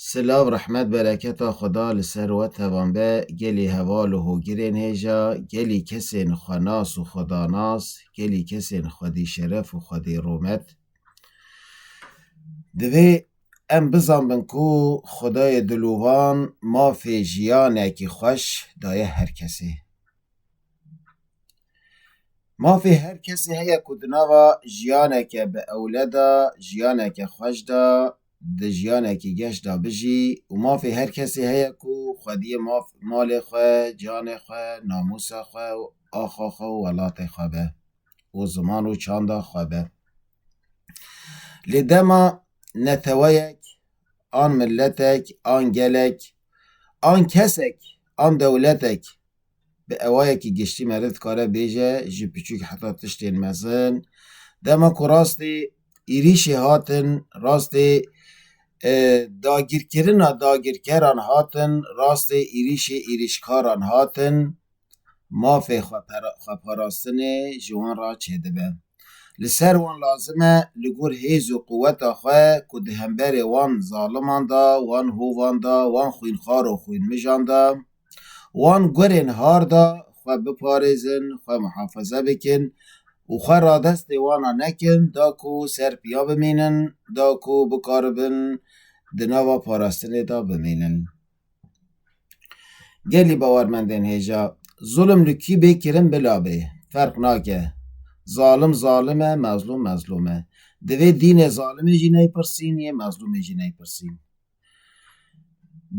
Silav rehmet bereketa Xweda li ser we tevan be gelî heval û hogirên hêja, gelî kesên xwenas û xwedanas, gelî kesên xwedî şeref û xwedî rûmet. Divê em bizanbin ku Xwedayê Dilûvan mafê jiyanekî xweş daye her kesê. Mafê her kesê heye ku di nava jiyaneke bi ewle de, jiyaneke xweş de, di jiyanekî geş de bijî û mafê her kesê heye ku xwediyê maf malê xwe, canê xwe, namûsa xwe û axa xwe û welatê xwe be û ziman û çanda xwe be. Lê dema neteweyek an miletek an gelek an kesek an dewletek Bi ewayekî giştî meriv dikare bêje ji piçûk heta tiştên mezin. Dema ku rastî êrîşê hatin, rastî dagîrkirina dagîrkeran hatin, rastî êrîşê êrîşkaran hatin, mafê xweparastinê ji wan re çêdibe. Li ser wan lazim e li gor hêz û quweta xwe ku di hemberê wan zaliman de, wan hovan de, wan xwînxwar û xwînmijan de, Wan gurên har da xwe biparêzin, xwe mihafeze bikin û xwe radestê wana nekin da ku ser piya bimînin, da ku bikaribin di nava parastinê da bimînin. Gelî bawermendên hêja, Zulim li kî bê kirin bila bê, ferq nake. Zalim zalim e, mezlûm mezlûm e. Divê dînê zalimê jî neypirsîn yê mezlûmê jî neypirsîn.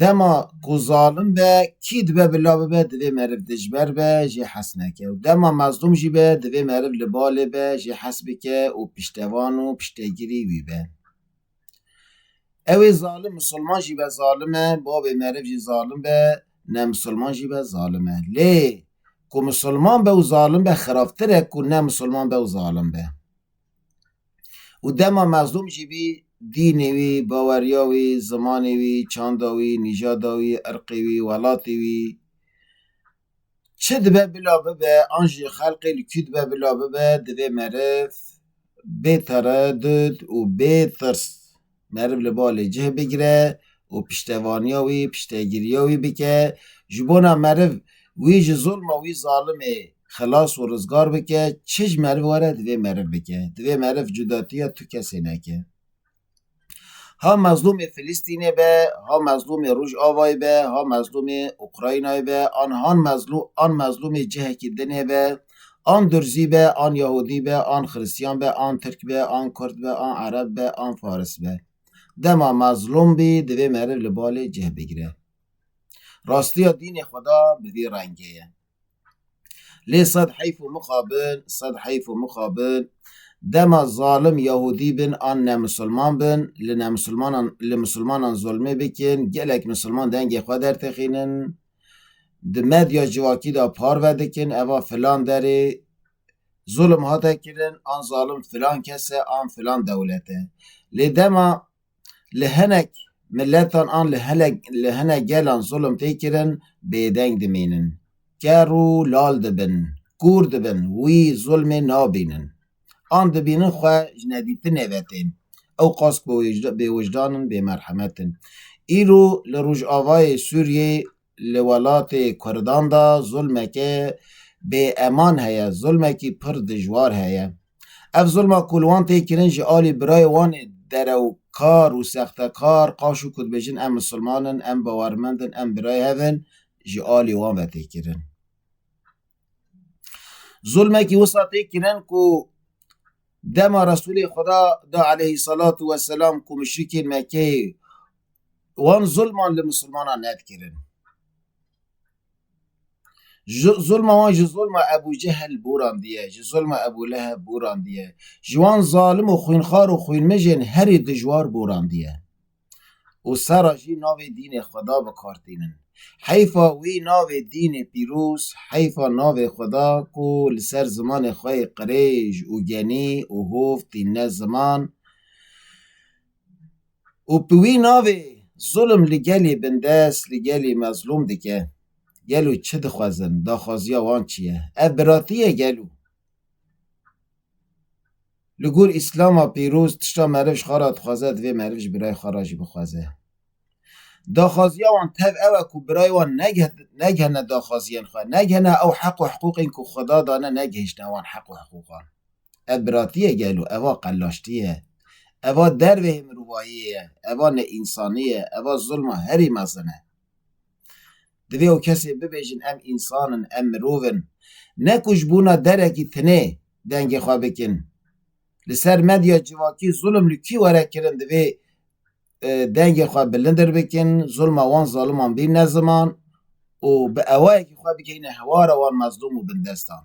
Dema ku zalim be kî dibe bila bibe divê meriv dijber be jê hez neke û dema mezlûm jî be divê meriv li balê be jê hez bike û piştevan û piştegirî wî be. Ewê zalim misilman jî be zalim e bavê meriv jî zalim be ne misilman jî be zalim e lê ku misilman be û zalim be xirabtir e ku ne misilman be û zalim be. û dema mezlûm jî bî, dînê wî, baweriya wî, zimanê wî, çanda wî, nîjada wî, irqê wî, welatê wî, çi dibe bila bibe, an jî xelqê li kû dibe bila bibe, divê meriv bê teredûd û bê tirs. Meriv li balê cih bigire û piştevaniya wî, piştegiriya wî bike. Ji bona meriv wî ji zulma wî zalimê xilas û rizgar bike, çi ji meriv were divê meriv bike. Divê meriv cudatiya tu kesê neke. Ha mezlûmê Filistînê be, ha mezlûmê Rojavayê be, ha mezlûmê Ukraynayê be an han mezlû an mezlûmê cihekî dinê be, An Durzî be, an Yahûdî be, an Xiristîyan be, an Tirk be, an Kurd be, an Ereb be, an Faris be. Dema mezlûm bî, divê meriv li balê cih bigire. Rastîya dînê xwe de bi vî rengê ye. Lê sed heyf û mixa bin, sed heyf û mixa bin, dema zalim Yahûdî bin an nemusilman bin, li nemusilmanan li musilmanan zulmê bikin, gelek musilman dengê xwe dertixînin, Di medya civakî de parve dikin eva filan derê zulm hate kirin an zalim filan kes e an filan dewlet e. Lê dema li hinek miletan an li hinek gelan zulm tê kirin bêdeng dimînin. Ker û lal dibin. Kûr dibin. Wî zulmê nabînin. An dibînin xwe ji nedîtinê ve tên. Ew qas bêwijdan in, bêmerhemet in. Îro li rojavayê Sûriyê li welatê kurdan de zulmeke bêeman heye, zulmekî pir dijwar heye. Ev zulma ku li wan tê kirin ji alî birayê wan ê derewkar û sextekar qaş û ku dibêjin em misilman in, em bawermend in, em birayê hev in, ji alî wan ve tê kirin. Zulmekî wisa tê kirin ku dema Resulê Xweda da aleyhî salatu weselam ku muşrikên Mekkeyê wan zulman li Musulmanan nedikirin. Zulma wan ji zulma Ebû Cehil bûrandiye, ji zulma Ebû Leheb bûrandiye, ji wan zalim û xwînxar û xwînmijên herî dijwar bûrandiye. û sera jî navê dînê Xweda bi kar tînin. Heyfa wî navê dînê pîroz, heyfa navê Xweda ku li ser zimanê xwe yê qirêj û genî û hov tînne ziman û bi wî navê zulm li gelê bindest, li gelê mezlûm dike. Gelo çi dixwezin, daxwaziya wan çi ye? Ev biratî ye gelo? Li gor Îslama pîroz tişta meriv ji xwe re dixwaze divê meriv ji birayê xwe re jî bixwaze. Daxwaziya wan tev ew e ku birayê wan negihîne daxwaziyên xwe, negihîne ew heq û hiqûqên ku Xweda dane negihîştine wan heq û hiqûqan. Ev biratî ye gelo, ev a qelaştî ye, ev a derveyê mirovayiyê ye, ev a neînsanî ye, ev a zulma herî mezin e. Divê ew kesê bibêjin em însan in, em mirov in. Ne ku ji bûna derekî tinê dengê xwe bikin. Li ser medya civakî zulm li kî were kirin divê dengê xwe bilindir bikin, zulma wan zaliman bîne ziman û bi ewayekî xwe bikeyne hewara wan mezlûm û bindestan.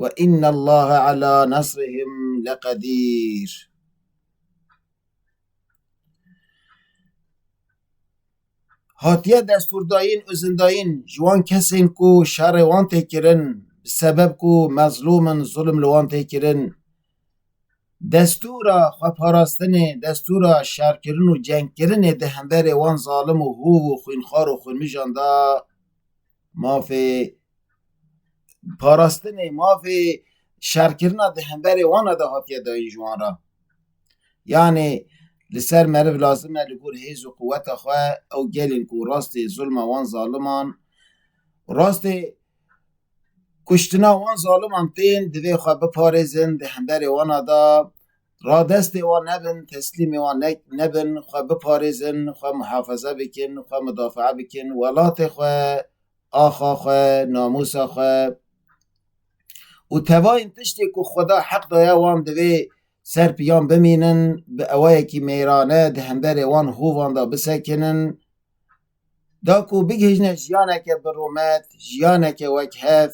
Ve innallaha ala nasrihim leqedîr. Hatiye destûrdayîn û zindayîn ji wan kesên ku şerê wan tê kirin bi sebeb ku mezlûm in, zilm li wan tê kirin. Destûra xweparastinê, destûra şerkirin û cengkirinê di hemberê wan zalim û hûv û xwînxwar û xwînmijan de Mafê parastinê, mafê şerkirina di hemberê wan de hatiye dayîn ji wan re. Yanê li ser meriv lazim e li gor hêz û quweta xwe ew gelên ku rastê zulma wan zaliman, rastê kuştina wan zaliman tên divê xwe biparêzin di hemberê wan de Radestê wan nebin, teslîmê wan nebin, xwe biparêzin, xwe muhafeze bikin, xwe mudafaa bikin, welatê xwe, axa xwe, namûsa xwe û tevayên tiştê ku Xweda heq daye wan divê ser piyan bimînin, bi ewayekî mêrane di hemberê wan hûvan de bisekinin. Da ku bigihîjne jiyaneke bi rûmet, jiyaneke wek hev.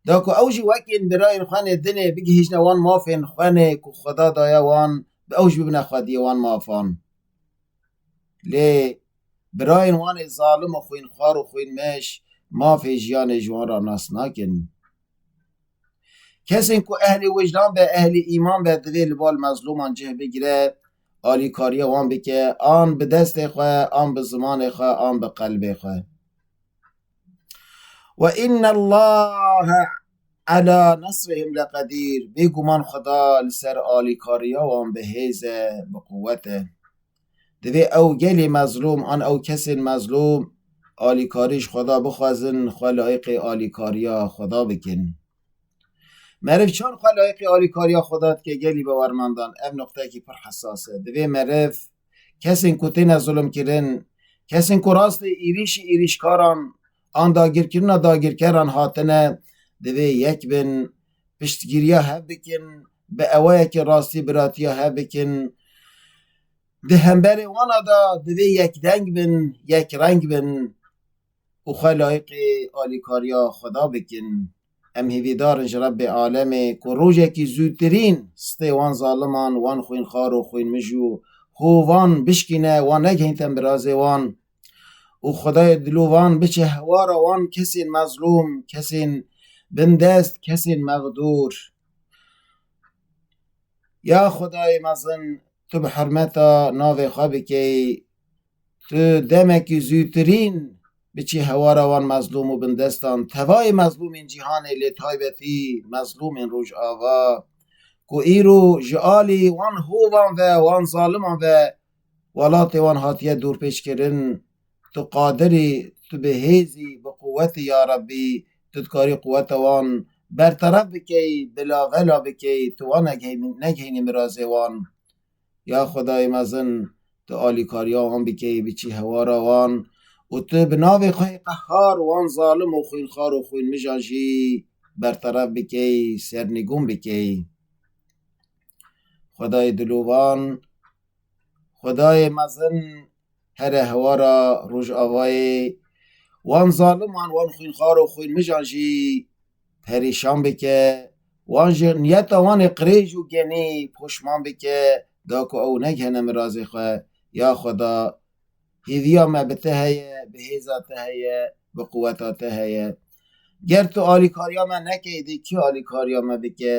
Da ku ew jî wekîn birayên xwe nê din ê bigihîjne wan mafên xwe nê ku Xweda daye wan bi ew jî bibine xwediyê wan mafan. Lê birayên wan ê zalim û xwînxwar û xwînmeş mafê jiyanê ji wan re nas nakin. Kesên ku ehlê wijdan be, ehlê îman be divê li bal mezlûman cih bigire, alîkariya wan bike an bi destê xwe, an bi zimanê xwe, an bi qelbê xwe. Ve inna Allahe ala nasrihim leqedîr. Bêguman Xweda li ser alîkariya wan bi hêz e, bi quwet e. Divê ew gelê mezlûm an ew kesên mezlûm alîkarî ji Xweda bixwezin, xwe layiqê alîkariya Xweda bikin. Meriv çend xwe layiqê alîkariya Xweda dike gelî be wermandan ev nuqtekî pir hesas e. Divê meriv kesên ku têne zulmkirin, kesên ku rastê êrîşî êrîşkaran an dagirkirina dagirkeran hatine, divê yek bin, piştgiriya hev bikin, bi ewayekî rastî biratiya hev bikin. Di hemberê wana de divê yekdeng bin, yekreng bin û xwe layiqê alîkariya Xweda bikin. Em hêvîdar in ji Rebbê alemê ku rojekî zûtirîn stê wan zaliman, wan xwînxwar û xwînmij û hovan bişkîne, wan negihîn tembirazê wan û Xwedayê dilû wan biçe hewara wan kesên mezlûm, kesên bindest, kesên mexdûr. Ya Xwedayê mezin, tu bi hurmeta navê xwe bikeyî Tu demekî zûtirîn biçî hewara wan mezlûm û bindestan, tevayê mezlûmên cîhanê lê taybetî mezlûmên Rojava ku îro ji alî wan hovan ve, wan zaliman ve welatê wan hatiye dorpêçkirin, tu qadir î, tu bi hêz î, bi quwet î yarebbî, tu dikarî quweta wan berteref bikeyî, bila vela bikeyî, tu wan negihînî mirazê wan. Ya Xwedayê mezin, tu alîkariya wan bikeyî biçî hewara wan û tu bi navê xwe yê qehar wan zalim û xwînxwar û xwînmijan jî berteref bikeyî, sernîgûn bikeyî. Xwedayê dil û van, Xwedayê mezin! Here hewara Rojavayê wan zaliman, wan xwînxar û xwînmijan jî perîşan bike, wan ji niyeta wan ê qirêj û genî poşman bike, da ku ew negihene mirazê xwe. Ya Xweda, hêviya me bi te heye, bi hêza te heye, bi quweta te heye. Ger tu alîkariya me nekey dê kî alîkariya me bike?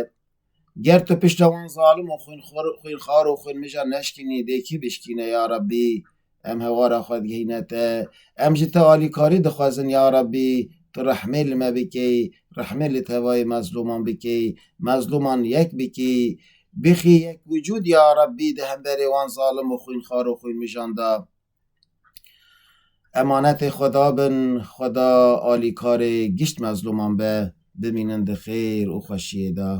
Ger tu pişta wan zalim û xwînxwar û xwînmijan neşkînî dê kî bişkîne ya Rabbî? Em hewara xwe digihîne te. Em ji te alîkarî dixwezin ya Rabbî tu rehmê li me bikî, rehmê li tevayê mezlûman bikî, mezlûman yek bikî. Bixî yek wicûd ya Rabbî di hemberê wan zalim û xwînxwar û xwînmijan de. Emanetê xwe dabin xweda alîkarê gişt mezlûman be, bimînin di xêr û xweşiyê de.